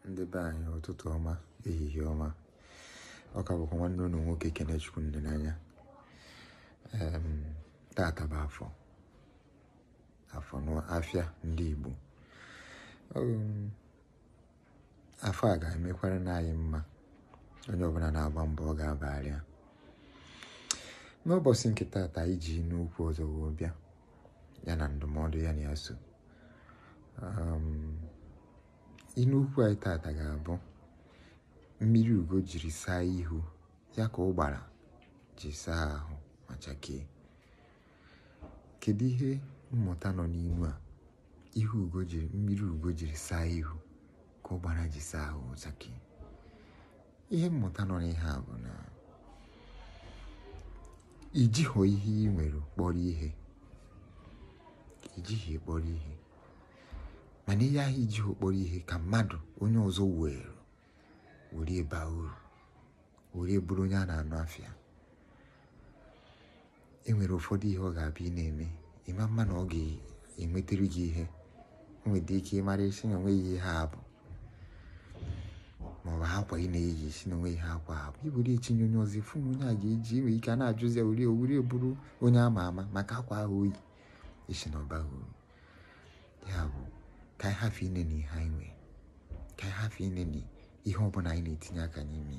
ndị be anyị ụtụtụ ọma ehihie ọma ọ ka bụkwa nwanne unu nwoke Kenechukwu Ndenanya tata bụ Afọ n'afịa ndị Igbo afọ a ga-emekwaranụ anyị mma onye ọbụla na-agba mbọ ọ ga-abara ya n'ụbọchị nke tata eji inu okwu ọzọ wee bịa ya na ndụmọdụ ya na ya so Inu okwu anyị tata ga-abụ mmiri ugo jiri saa ihu ya ka ụgbara ji saa ahụ ma chakee. Kedu ihe mmụta nọ n'inu a? Mmiri ugo jiri saa ihu ka ụgbara ji saa ahụ ma chakee. Ihe mmụta nọ n'ihe a bụ na i jighọ ihe ị nwere kpọrọ ihe i jighị kpọrọ ihe mana ihe ahụ i jighọ kpọrọ ihe ka mmadụ onye ọzọ were were baa uru were bụrụ onye a na-anụ afa ya e nwere ụfọdụ ihe ọ ga-abụ ị na-eme ị mama na ọ ga-ewetara gị ihe o nwere ike ị mara ị sị na o nweghị ihe ọ bụ maọbụ akwa ị na-eyi ị sị na o nweghị ihe akwa a bụ i were etinye onye ọzọ ị fụ na onye a ga-eji nwere ike a na-ajụzi ya were o were bụrụ onye ama ama maka akwa ahụ o yi ị sị na ọ baghị uru ya bụ ka anyị hafụ ineni ihe anyị nwee ka anyị hafụ ineni ihe ọbụla anyị na-etinye aka n'ime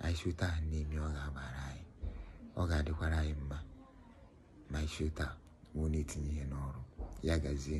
anyị si otu a na-eme ọ ga-abara anyị ọ ga-adịkwara anyị mma ma anyị si otu a wee na-etinye ihe n'ọrụ ya gazie